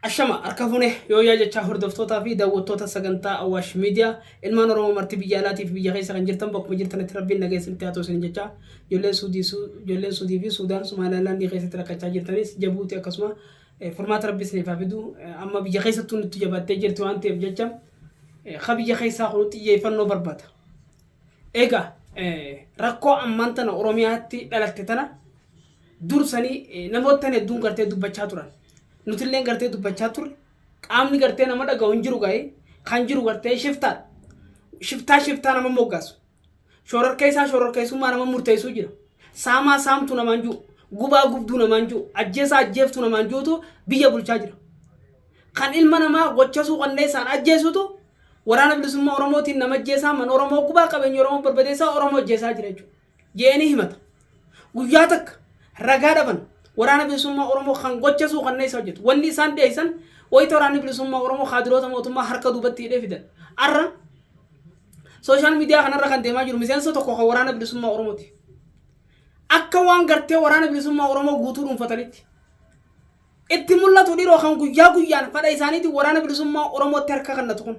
Ashama harka fuune yooyaa jechaa hordoftootaa fi daawwattoota sagantaa Awaash Miidiyaa ilmaan Oromoo marti biyya alaatiif biyya keessa kan jirtan bakkuma jirtanitti rabbiin nagaa isinitti haa toosin jechaa ijoolleen Suudii Su- ijoolleen Suudii fi Suudaan Somaalilaandii keessatti rakkachaa jirtanis Jabuuti akkasuma eh, furmaata rabbi isiniif haa fidu Eh, amma biyya keessattuu nutti jabaattee jirti waan ta'eef jecha ka biyya keessaa kun xiyyeeffannoo barbada. Egaa rakkoo ammaan tana Oromiyaatti dhalatte tana dursanii namoottan hedduun gartee dubbachaa turan. Nutilleen gartee dubbachaa turre. Qaamni gartee nama dhagahu hin jiru ga'ee kan jiru gartee shiftaadha. Shiftaa shiftaa nama moggaasu. Shororkeessaa shororkeessummaa nama murteessuu jira. Saamaa saamtu namaan jiru. Gubaa gubduu namaan jiru. Ajjeesaa ajjeeftu namaan jirutu biyya bulchaa jira. Kan ilma namaa gochasuu qanneessaan ajjeesutu waraana bilisummaa Oromootiin nama ajjeesaa man Oromoo gubaa qabeenya Oromoo barbadeessaa Oromoo ajjeesaa jira jechuudha. Je'eenii himata. Guyyaa takka ragaa dhaban waraana bilisummaa Oromoo kan gochasuu qanneessaa hojjetu. Wanni isaan dhiyeessan wayita waraanni bilisummaa Oromoo kaadiroota mootummaa harka duubatti hidhee fidan. Arra Sooshaal miidiyaa kanarra kan deemaa jiru miseensa tokko kan waraana bilisummaa Oromooti. Akka waan gartee waraana bilisummaa Oromoo guutuu dhuunfatanitti. Itti mul'atu dhiroo kan guyyaa guyyaan fadha isaaniitiin waraana bilisummaa Oromootti harka kannatu kun.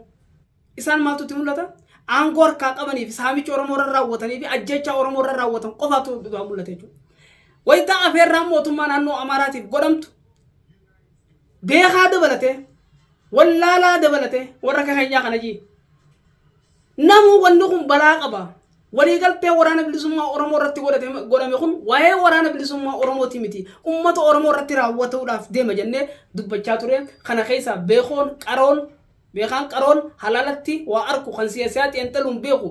Isaan maaltu itti mul'ata? Aangoo harkaa qabanii fi saamicha Oromoo irra raawwatanii fi ajjeechaa Oromoo irra raawwatan qofaatu mul'ata jechuudha. Wayita afeerraan mootummaa naannoo Amaaraatiif godhamtu Beekaa dabalatee, wallaalaa dabalatee warra akka keenyaa kana jii. Namuu wanni kun balaa qaba. Waliigaltee waraana bilisummaa Oromoo irratti godhate- godhame kun waa'ee waraana bilisummaa Oromooti miti. Uummata Oromoo irratti raawwatuudhaaf deema jennee dubbachaa ture. Kana keessaa beekoon qaroon beekaan qaroon halaalatti waa arku kan siyaasiyaa xiinxaluun beeku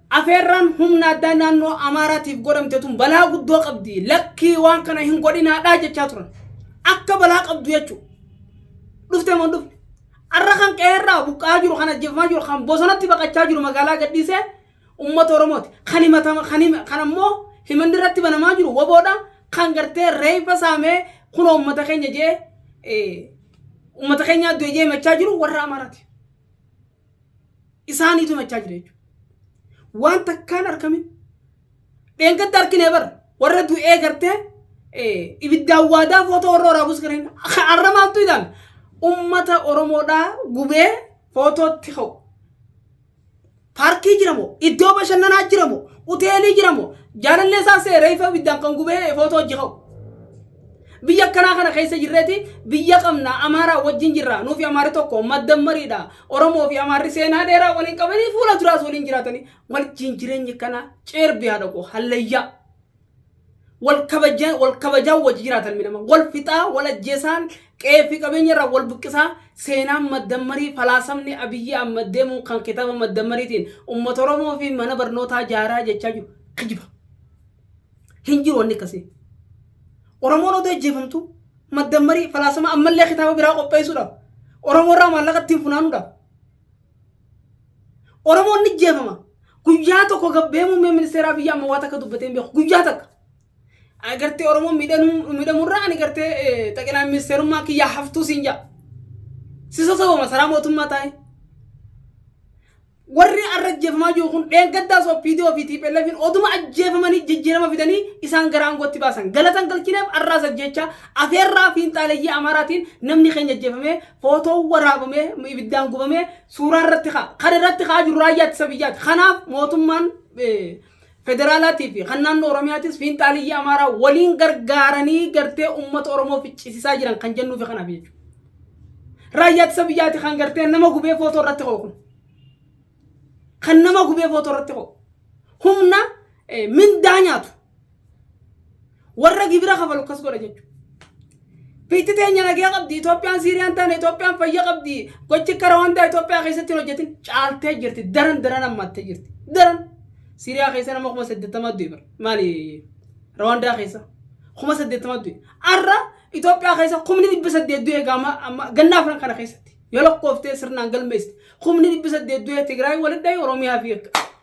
Afeerraan humna addaa naannoo Amaaraatiif godhamte tun balaa guddoo qabdi. Lakkii waan kana hin godhinaadhaa jechaa turan. Akka balaa qabdu jechuudha. Dhufte moo hin dhufne? Har'a kan qe'eerraa buqqa'aa jiru, kan ajjeefamaa jiru, kan bosonatti baqachaa jiru magaalaa gadhiisee uummata Oromooti. Kan himatama, kan hima, kan ammoo himanni irratti banamaa jiru waboodha. Kan gartee reeffa saamee kunoo uummata keenya jee, eh, uummata keenyaa du'e jee himachaa jiru warra Amaaraati. isaaniitu himachaa jira jechuudha. Waan takkaan argamin dheengadda arginee bara warra du'ee gartee eh, ibiddaan waadaa footoo warra waraabus gareen har'a maaltu ilaal ummata Oromoodhaa gubee footootti ka'u. Paarkii jiramoo iddoo bashannanaa jiramoo hoteelii jiramoo jaalallee isaa seeree ifa ibiddaan kan gubee footoo hojii ka'u. Biyya akkanaa kana keessa jirreeti biyya qabna Amaaraa wajjin jirra nuufi Amaarri tokko maddammariidha Oromoo fi Amaarri seenaa dheeraa waliin qabanii fuula duraas waliin jiraatanii wajjin jireenyi kanaa ceerbi haadha koo hallayyaa wal kabajaa wal kabajaa wajji jiraata ilmi namaa wal fixaa wal ajjeesaan qe'ee fi qabeenya irraa wal buqqisaa seenaan maddammarii falaasamni Abiyyi Ahmad deemuun kan kitaaba maddammariitiin uummata Oromoo fi mana barnootaa jaaraa jechaa jiru kijiba. Hin jiru wanni akkasii. Oromoon odoo ajjeefamtu maddammarii falaasama ammallee kitaaba biraa qopheessuudhaaf Oromoo irraa maallaqa ittiin funaanuudhaaf. Oromoon ni ajjeefama. Guyyaa tokko gabbee muummee ministeeraa biyya amma waa takka dubbatee hin beeku. Guyyaa takka. Agartee Oromoon miidhamurraa ani gartee xaqilaa ministeerummaa kiyyaa haftuu siin jaa. Sisa sababa masaraa mootummaa taa'ee. Warri arra ajjeefamaa jiru kun dheengaddaas OPDO fi TPLFin oduma ajjeefamanii jijjiirama fidanii isaan gara aangootti baasan. Galata hin galchineef arraas ajjeechaa afeerraa fiinxaaleyyii Amaaraatiin namni keenya ajjeefamee, footoon waraabamee, ibiddaan gubamee suuraa irratti ka'a. Kan irratti ka'aa jiru raayyaa ittisa biyyaati. Kanaaf mootummaan federaalaatii fi kan naannoo Oromiyaatis fiinxaaliyyii Amaaraa waliin gargaaranii gartee uummata Oromoo ficcisiisaa jiran kan jennuu fi kanaaf jechuudha. Raayyaa ittisa biyyaati kan gartee nama gubee footoo irratti ka'u kun. Kan nama gubee footoo irratti ka'u. Humna mindaa nyaatu. Warra gibira kafalu akkas godha jechuudha. Biitti teenya nagee qabdi, Itoophiyaan Siiriyaan taane, Itoophiyaan fayya qabdi, gochi kara wanta Itoophiyaa keessatti hin hojjetin caaltee jirti, daran daran hammaattee jirti. Daran Siiriyaa keessa nama kuma saddeettama du'e bara. Maali Rawaandaa keessa kuma saddeettama du'e. Har'a Itoophiyaa keessa kumni dhibba saddeet du'e gaama amma ganna afran kana keessatti. Yoo lakkooftee sirnaan galmeessite kumni dhibba saddeet du'e Tigraay walitti dhahi Oromiyaa fi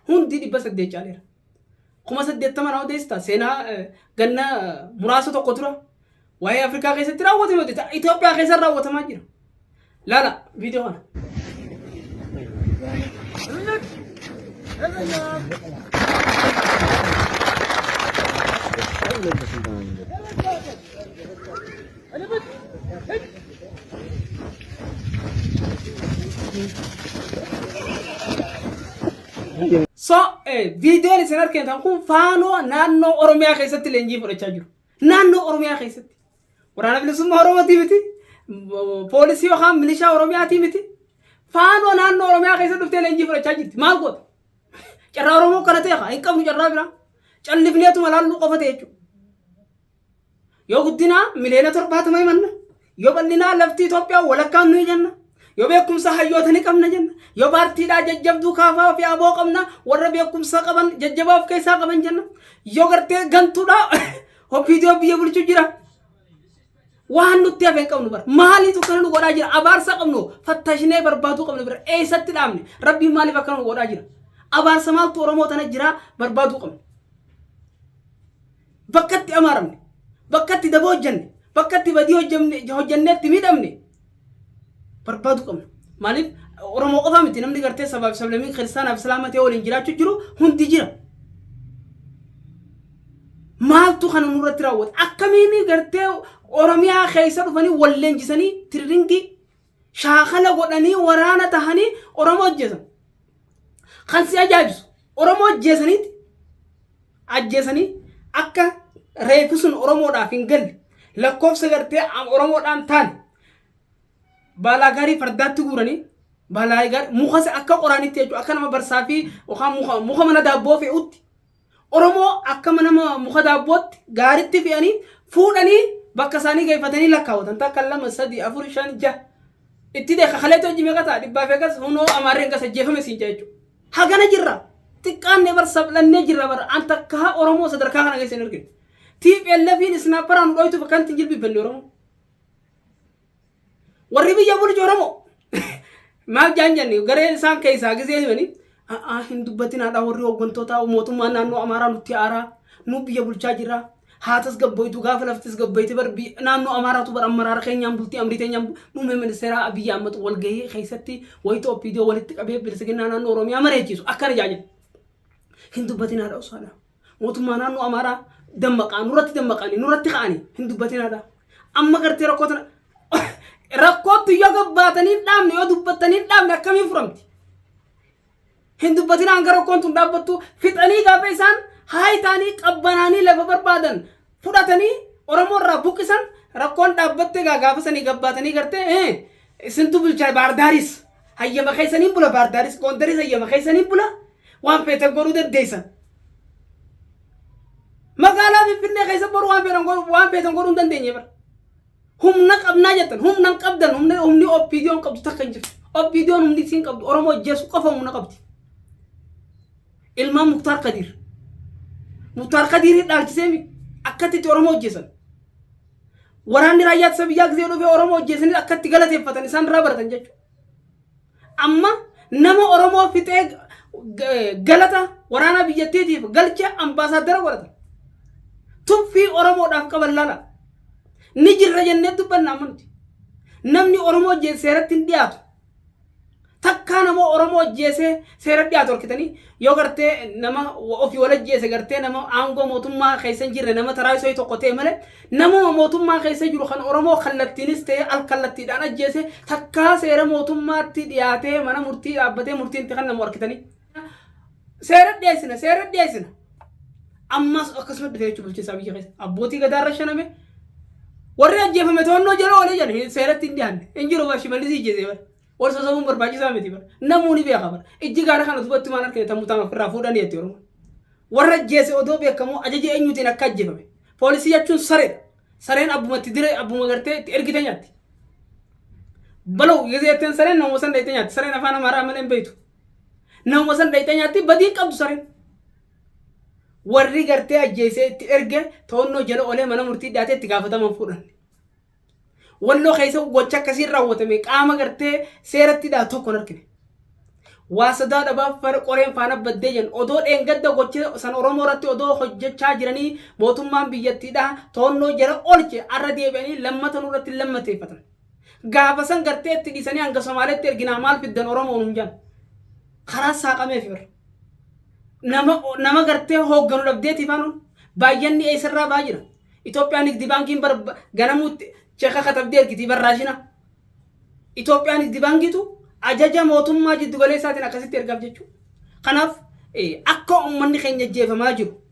hundi dhibba saddeet caaleera. kuma saddeettama na odeessita seenaa eh, ganna eh, muraasa tokko dura waa'ee Afrikaa keessatti raawwatame odeessa Itoophiyaa keessatti raawwatamaa jira. Laala viidiyoo kana. So, eh, viidiyoon isin argitan kun faanoo naannoo Oromiyaa keessatti leenjii fudhachaa jiru. Naannoo Oromiyaa keessatti. Waraana bilisummaa Oromootii miti. m- Poolisii yookaan milishaa Oromiyaatii miti. Faanoo naannoo Oromiyaa keessa dhuftee leenjii fudhachaa jirti. Maal goota? Carraa Oromoo kana ta'e haa hin qabnu carraa biraa. Callifneetuma laalluu qofa ta'e jechuudha. Yoo guddinaa miliyoona torbaatama himanna. Yoo bal'inaa lafti Itoophiyaa walakkaan nuyi jenna. Yoo beekumsa hayyoota ni qabna jenna. Yoo paartiidhaa jajjabduu kaafaa fi aboo qabna warra beekumsa qaban jajjabaa of keessaa qaban jenna. Yoo gartee gantuudhaa ofiidiyoo biyya bulchuu jira. Waan nutti hafe hin qabnu bara. Maaliitu akkana nu godhaa jira? Abaarsa qabnu fattashinee barbaaduu qabnu bira. Eessatti dhaabne? Rabbiin maaliif akkana nu godhaa jira? Abaarsa maaltu Oromoo tana jira barbaaduu qabna. Bakka itti amaaramne, bakka itti daba hojjanne, bakka itti badii hojjamne- hojjannee itti miidhamne barbaaduu qabna. Maaliif Oromoo qofa miti namni gartee sabaa fi sablammiin kiristaanaa fi islaama ta'ee waliin jiraachuu jiru hundi jira. Maaltu kana nurratti raawwata? Akkamiin gartee Oromiyaa keessa dhufanii wal leenjisanii tiriringii shaakala godhanii waraana tahanii Oromoo ajjeesan. Kan si ajaa'ibsu Oromoo ajjeesaniiti ajjeesanii akka reefu sun Oromoodhaaf hin galle lakkoofsa gartee Oromoodhaan taane baalaa gaarii fardaatti guuranii baalaa gaarii mukas akka qoraanitti jechuudha akka nama barsaa fi yookaan muka muka mana daabboo fe'utti Oromoo akkama nama muka daabbootti gaaritti fe'anii fuudhanii bakka isaanii geeffatanii lakkaawwatan takka lama sadii afur shan jaha itti deeka kaleetti hojii meeqa ta'a dhibbaa fi akkas hunoo amaarreen gas ajjeefame siin jaa jechuudha. Hagana jirra xiqqaannee bar sablannee jirra bar an takkaa Oromoo sadarkaa kana keessa hin argine. TPLFiin isnaapparaan nu dhooytuuf akkanatti hin jilbiibbanne Oromoo. Warri biyya bulchu Oromoo maaf jaan jenne garee isaan keessaa gisee himanii a'aa hin dubbatin haadhaa warri hooggantoota mootummaa naannoo Amaaraa nutti aaraa nu biyya bulchaa jira haa tasgabboitu gaafa lafti tasgabboite bar biyya- naannoo Amaaraatu bar ammaraara keenyaan bultii amrii teenyaan bu- muummee ministeeraa Abiyyi Ahmad wal gahee keessatti wayita OPDO walitti qabee bilisiginnaa naannoo Oromiyaa mari'achiisu akkana jaa jedhe hin dubbatin haadha usaadha. Mootummaa naannoo Amaaraa dammaqaa nurratti dammaqanii nurratti ka'anii hin dubbatinaadha. Amma gartee rakkoo tana rakkootti yoo gabbaatanii hin dhaabne yoo dubbattanii hin dhaabne akkamiin furamti? Hin dubbatinaan gara rakkoon tun dhaabbattu fixanii gaafa isaan haayitaanii qabbanaanii lafa barbaadan fudhatanii Oromoo irraa buqqisan rakkoon dhaabbattee egaa gaafa sanii gabbaatanii gartee ee isintu bulchaa baardaaris hayyama keessaniin bula baardaaris goondaris hayyama keessaniin bula waan feetan godhuu dandeessan. Magaalaa Finfinnee keessa boru waan feetan godhuu waan feetan godhuu hin dandeenye bara. Humna qabnaa jettan humna hin qabdan humna humni OPDOn qabdu takka hin jirtu. OPDOn humni isiin qabdu Oromoo ajjeesuu qofa humna qabdi. Ilmaan Muktaar Kadiir. Muktaar Kadiirii dhaalchisee mi akkatti itti Oromoo hojjeessan. Waraanni raayyaa ittisa biyyaa gisee dhufee Oromoo hojjeessanii akkatti galateeffatan isaan irraa baratan jechuudha. Amma nama Oromoo fixee g- galata waraanaa biyyattiitiif galcha ambaasaaddara godhata. Tuffii Oromoodhaaf qaban laala. Ni jirra jennee dubbanna amma nuti. Namni Oromoo hojjeesse seeratti hin dhiyaatu. Takkaa nama Oromoo ajjeesee seera dhiyaatu harkitanii yoo gartee nama ofii wal ajjeese gartee nama aangoo mootummaa keessa hin jirre nama taraa isoo tokko ta'e malee namuma mootummaa keessa jiru kan Oromoo kallattiinis ta'e al kallattiidhaan ajjeese takkaa seera mootummaatti dhiyaatee mana murtii dhaabbatee murtiin itti kennamu harkitanii. Seera dhiyeessina, seera dhiyeessina. Ammas akkasuma dhufe jechuun bulchiinsaa biyya keessa. Abbootii gadaa irra shaname. Warri ajjeefame to'annoo jala oolee jedhan hin- seeratti hin dhiyaanne. Hin jiru bara shimallis ijjeesee bara. Wal sosobuun barbaachisaa miti bara. Namuu ni beeka bara. Ijji gaara kana duubatti maal argine tammuu taama ofirraa fuudhanii jetti Oromoon. Warra ajjeese odoo beekamoo ajaja eenyuutiin akka ajjeefame. Poolisii jechuun sareedha. Sareen abbuma itti diree abbuma gartee itti ergite nyaatti. Baloo gisee ittiin sareen namoota sana itti nyaatti. Sareen afaan amaaraa malee hin beektu. Namuma san dhayxee nyaatti badii hin qabdu sareen. Warri gartee ajjeesee itti erge to'annoo jala olee mana murtii dhiyaatee itti gaafataman fuudhan. Walloo keessa gocha akkasiin raawwatame qaama gartee seeratti dhaa tokko hin argine. Waa sadaa dhabaa fara qoreen faana baddee jedhan odoo dheengadda gocha san Oromoo irratti odoo hojjechaa jiranii mootummaan biyyattiidhaa to'annoo jala oolche arra deebi'anii lammata nurratti lammateeffatan. Gaafa san gartee itti dhiisanii hanga Somaaleetti erginaa maal fiddan Oromoo nuun jedhan. Karaan saaqameef irra. Nama, nama gartee hoogganu dhabdeetiif hanuun baay'anni eessarraa baa jira. Itoophiyaan Nigdi Baankiin bar, ganamuutti cheeka katabdee ergitii barraashina. Itoophiyaan Nigdi Baankiitu ajaja mootummaa jiddu galeessaatiin akkasitti ergaaf jechuudha. Kanaaf eh, akka uummanni keenya jeefamaa jiru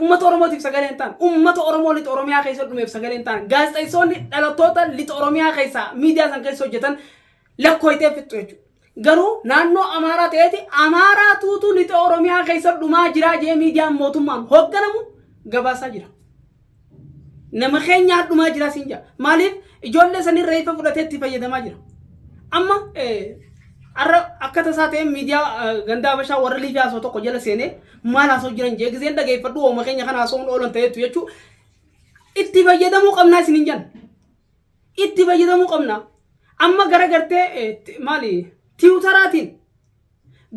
Uummata Oromootiif sagalee hin taane. Uummata Oromoo lixa Oromiyaa keessa dhumeef sagalee hin taane. Gaazexeessoonni dhalattoota lixa Oromiyaa keessaa miidiyaa san keessa hojjetan lakkooytee fixxu jechuudha. Garuu naannoo Amaaraa ta'eeti Amaaraa tuutu lixa Oromiyaa keessa dhumaa jiraa jee miidiyaan mootummaan hoogganamu gabaasaa jira. Nama keenya hadhumaa jiraa siin jaa. Maaliif ijoollee sanii reefa fudhatee itti fayyadamaa jira. Amma arra akka tasaa ta'e miidiyaa gandaa bashaa warra liifi haasoo tokko jala seenee maal haasoo jiran jee giseen dhageeffadhu hooma keenya kan haasoo oolan ta'eetu jechuu itti fayyadamuu qabnaa isin hin jenna. Itti fayyadamuu qabnaa. Amma gara gartee maali tiwutaraatiin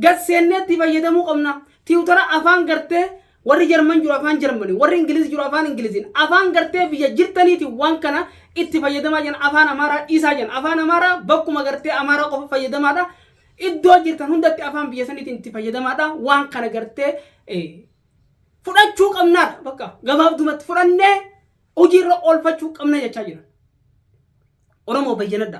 Gad seennee itti fayyadamuu qabna. Tiwutara afaan gartee warri Jarman jiru afaan Jarmaniin, warri Ingiliz jiru afaan Ingiliziin, afaan gartee biyya jirtaniitiin waan kana itti fayyadamaa jiran afaan Amaaraa dhiisaa jiran. Afaan Amaaraa bakkuma gartee Amaaraa qofa fayyadamaadha. Iddoo jirtan hundatti afaan biyya saniitiin itti fayyadamaadha. Waan kana gartee eh, fudhachuu qabnaadha. Bakka gabaabdumatti fudhannee hojiirra oolfachuu qabna jechaa jiran. Oromoo bayyanadha.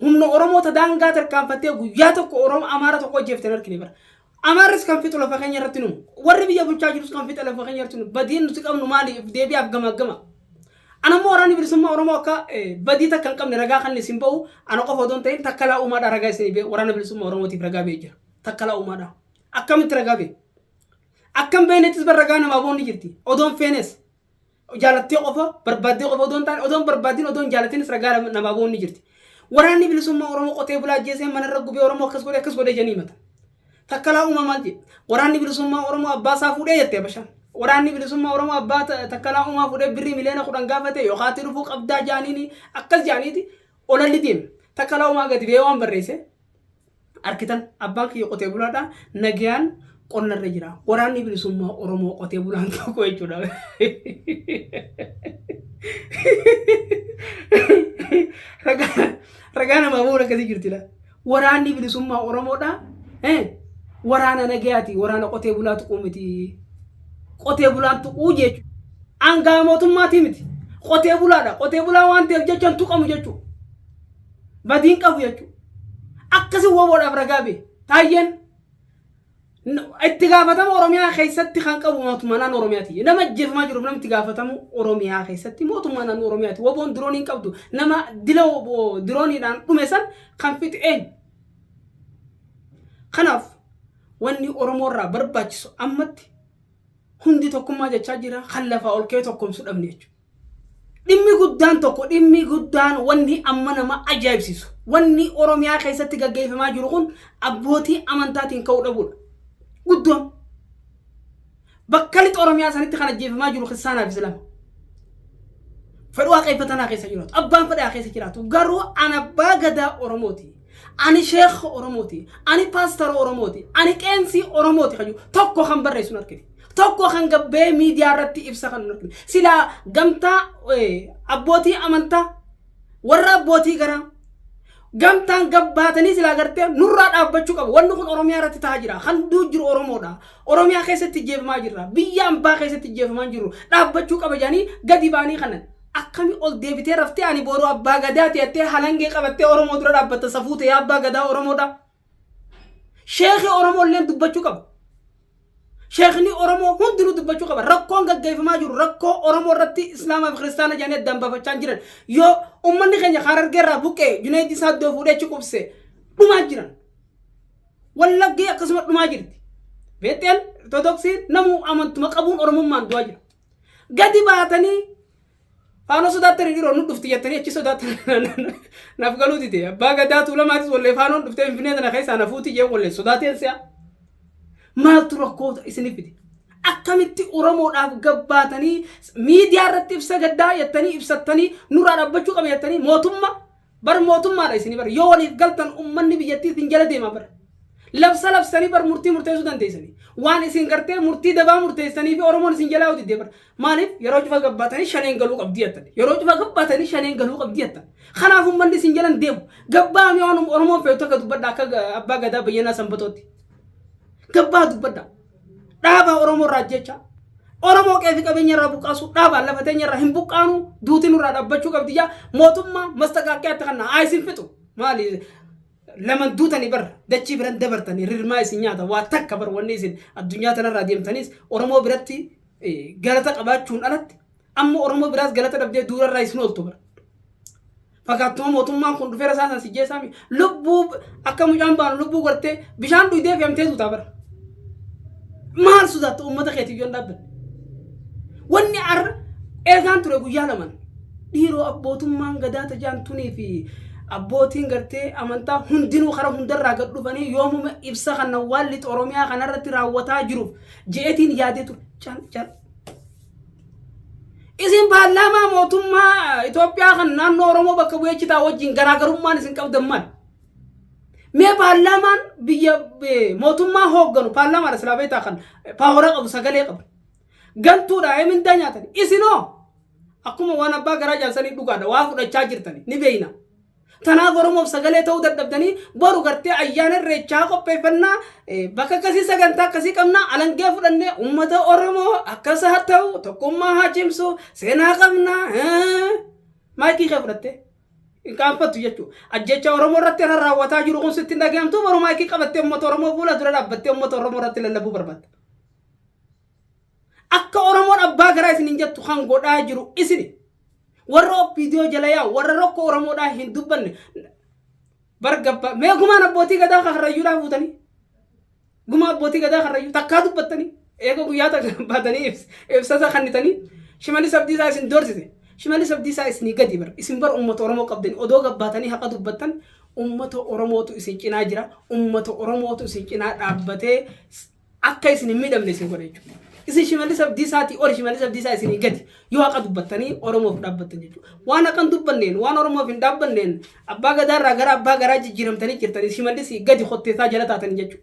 Humna Oromoo ta daangaa tarkaanfattee guyyaa tokko Oromoo Amaara tokko ajjeeftan argine bara. Amaarris kan fixu lafa keenya irratti nu. Warri biyya bulchaa jirus kan fixa lafa keenya irratti nu. Badiin nuti qabnu maaliif deebi'aaf gama gama. Ana immoo waraanni bilisummaa Oromoo akka eh, badii takka hin qabne ragaa kan isin ba'u ana qofa odoo hin ta'in takkalaa uumaadhaa ragaa isin ba'e waraana bilisummaa Oromootiif ragaa ba'e jira. Takkalaa uumaadhaa. Akkamitti ragaa ba'e? Akkam beenettis bar ragaa namaa boonni jirti. Odoon feenes. jaalattee qofa barbaaddee qofa odoo hin taane odoo hin barbaadin odoo hin jaalatinis ragaa nama- namaa ba'uun ni jirti. Waraanni bilisummaa Oromoo qotee bulaa ajjeesee manarra gubee Oromoo akkas godhe akkas godhe jedhanii himata. Takkalaa uumaa maal jedhe? Waraanni bilisummaa Oromoo abbaa isaa fuudhee jette Habashaan. Waraanni bilisummaa Oromoo abbaa ta- takkalaa uumaa fuudhee birrii miliyoona kudhan gaafate yookaan ati dhufuu qabdaa jaaniini akkas jaaniiti olalli deeme. Takkalaa uumaa gadi ba'ee waan barreesse Arkitan abbaan kiyya qotee bulaadha. Nagayaan qonna irra jira. Waraanni bilisummaa Oromoo qotee bulaan tokko jechuudha. Ragaa ragaa namaa booda akkasii jirtila. Waraanni bilisummaa Oromoodha. Eh, Waraana nagayaati. Waraana qotee bulaa tuquu miti. Qotee bulaan tuquu jechuudha. Aangaa mootummaatii miti. Qotee bulaadha. Qotee bulaa waan ta'eef jecha hin tuqamu jechuudha. badiin qabu jechuudha. Akkasi woboodhaaf ragaa bee. Taayyeen itti gaafatama Oromiyaa keessatti kan qabu mootummaa naannoo Oromiyaati. Nama ajjeefamaa jiruuf namni itti gaafatamu Oromiyaa keessatti mootummaa naannoo Oromiyaati. Woboon diroonii hin qabdu. Nama dila woboo dirooniidhaan dhume san kan fixe eenyu? Kanaaf wanni Oromoo irraa barbaachisu ammatti hundi tokkummaa jechaa jira kan lafaa ol ka'ee tokkoomsuu dhabne jechuudha. Dhimmi guddaan tokko dhimmi guddaan wanni amma nama ajaa'ibsiisu wanni Oromiyaa keessatti gaggeeffamaa jiru kun abbootii amantaatiin ka'uu dhabuudha. Guddoon bakka lixa Oromiyaa sanitti kan ajjeefamaa jiru kiristaanaa fi islaama. Fedhuu waaqeffatanaa keessa jiraatu abbaan fedhaa keessa jiraatu garuu an abbaa gadaa Oromooti. Ani sheekha Oromooti. Ani paastara Oromooti. Ani qeensii Oromooti kan jiru tokko kan barreessu hin argine. tokko kan gabbee miidiyaa irratti ibsa kan hin argine. Silaa gamtaa eh, abbootii amantaa warra abbootii garaa gamtaan gabbaatanii silaa gartee nurraa dhaabbachuu qabu. Wanni kun Oromiyaa irratti ta'aa jira. Kan du'u jiru Oromoodha. Oromiyaa keessatti jeefamaa jirra. Biyya ambaa keessatti jeefamaa jiru. Dhaabbachuu qaba jedhanii gadi ba'anii kanan. Akkami ol deebitee raftee ani boru abbaa gadaa teettee halangee qabattee Oromoo dura dhaabbatta safuu ta'ee abbaa gadaa Oromoodha. Sheekii Oromoo illee dubbachuu qaba. Sheekni Oromoo hundinuu dubbachuu qaba. Rakkoon gaggeeffamaa jiru rakkoo Oromoo irratti Islaamaa fi Kiristaana jedhanii addaan baafachaa jiran. Yoo uummanni keenya Harargee irraa buqqee Junaayid isaa iddoo fuudhee achi qubse dhumaa jiran. Wallaggee akkasuma dhumaa jirti. Beexxeen Ortodoksiin namuu amantuma qabuun Oromummaan du'aa jira. Gadi baatanii Faanoo sodaattanii dhiroo nu dhufti jettanii achi sodaattanii naaf galuu dide. Abbaa gadaa tuulamaatis wallee faanoon dhuftee finfinnee tana keessaa na fuuti jee wallee sodaateen si'a. Maaltu rakkoota isiniif fide? Akkamitti Oromoodhaaf gabbaatanii miidiyaa irratti ibsa gaddaa jettanii ibsattanii nurraa dhabbachuu qaba jettanii mootummaa Bar mootummaadha isini bar yoo waliif galtan ummanni biyyattii isin jala deema bar. Labsa labsanii bar murtii murteessuu dandeessanii. Waan isin gartee murtii dabaa murteessanii fi Oromoon isin jalaa hojii deebar. Maaliif yeroo cufa gabbaatanii shaneen galuu qabdii jettan. Yeroo cufa gabbaatanii shaneen galuu qabdii jettan. Kanaaf ummanni isin jalan deemu. Gabbaanii waan Oromoon feetu akka dubbadha akka abbaa gadaa bayyanaa sanbatootti. Gabbaa dubbadha. Dhaaba Oromoo irraa ajjeechaa. Oromoo qeefi qabeenya irraa buqqaasu dhaabaan lafa teenya irraa hin buqqaanu duuti nurraa dhaabbachuu qabdi jaa mootummaa mastaqaaqqee akka kanna haa isin fixu maali laman duutanii bar dachii biran dabartanii rirmaa isin nyaata waa takka bar wanni isin addunyaa tanarraa deemtaniis Oromoo biratti eh, galata qabaachuun alatti amma Oromoo biraas galata dhabdee duurarraa isin ooltu bar. Fakaattuma mootummaan kun dhufee rasaasan si jeessaa mi? Lubbuu akka mucaan baanu lubbuu gortee bishaan dhuydee fe'amtee duutaa bara. Maal sodaatta uummata keetiif yoon dhaabbanne? Wanni arra eegaan ture guyyaa laman dhiiroo abbootummaan gadaa tajaantunii fi abbootiin gartee amantaa hundinuu kara hundarraa gad dhufanii yoomuma ibsa kana waan lixa Oromiyaa kanarratti raawwataa jiruuf je'etiin yaadee ture. Cal cal. Isin paarlaamaa mootummaa Itoophiyaa kan naannoo Oromoo bakka bu'ee jitaa wajjin garaagarummaan isin qabdan maal? Mee paarlaamaan biyya eh, mootummaa hoogganu paarlaamaadha silaa beektaa kan paawara qabu sagalee qabu. Gantuudha ee mindaa nyaatan. Isinoo akkuma waan abbaa garaa jaansanii dhugaadha waa fudhachaa jirtani ni beeyna. Tanaaf Oromoof sagalee ta'uu dadhabdanii boru gartee ayyaana irreechaa qopheeffannaa bakka akkasii sagantaa akkasii qabnaa alangee fudhannee uummata Oromoo akkas haa ta'u tokkummaa haa cimsu seenaa qabnaa maayikii kee fudhattee. hin qaanfattu jechuudha. Ajjecha Oromoo irratti irra raawwataa jiru kun sitti hin dhaga'amtu boru maayikii qabattee uummata Oromoo fuula dura dhaabbattee uummata Oromoo irratti lallabuu barbaadda. Akka Oromoon abbaa garaa isiniin jettu kan godhaa jiru isini. Warra OPDO jala yaa'u, warra rakkoo Oromoodhaa hin dubbanne. Bar gabba, mee gumaan abbootii gadaa kan Karrayyuudhaa fuutanii? Gumaa abbootii gadaa Karrayyuu takkaa dubbattanii? Eega guyyaa takka baatanii ibs- ibsasa kannitanii? Shimallis Abdiisaa isin doorsise. Shimallis Abdiisaa isinii gadi bar. Isin bar uummata Oromoo qabdanii odoo gabbaatanii haqa dubbattan uummata Oromootu isin cinaa jira. Uummata Oromootu isin cinaa dhaabbatee s- akka isin hin miidhamne isin godha jechuudha. Isin shimallis abdiisaati ol shimallis abdiisaa isinii gadi yoo haqa dubbattanii Oromoof dhaabbattan jechuudha. Waan haqa hin dubbanneen waan Oromoof hin dhaabbanneen abbaa gadaarraa gara abbaa garaa jijjiiramtanii jirtanii shimallis gadi kotteessaa jala taatanii jechuudha.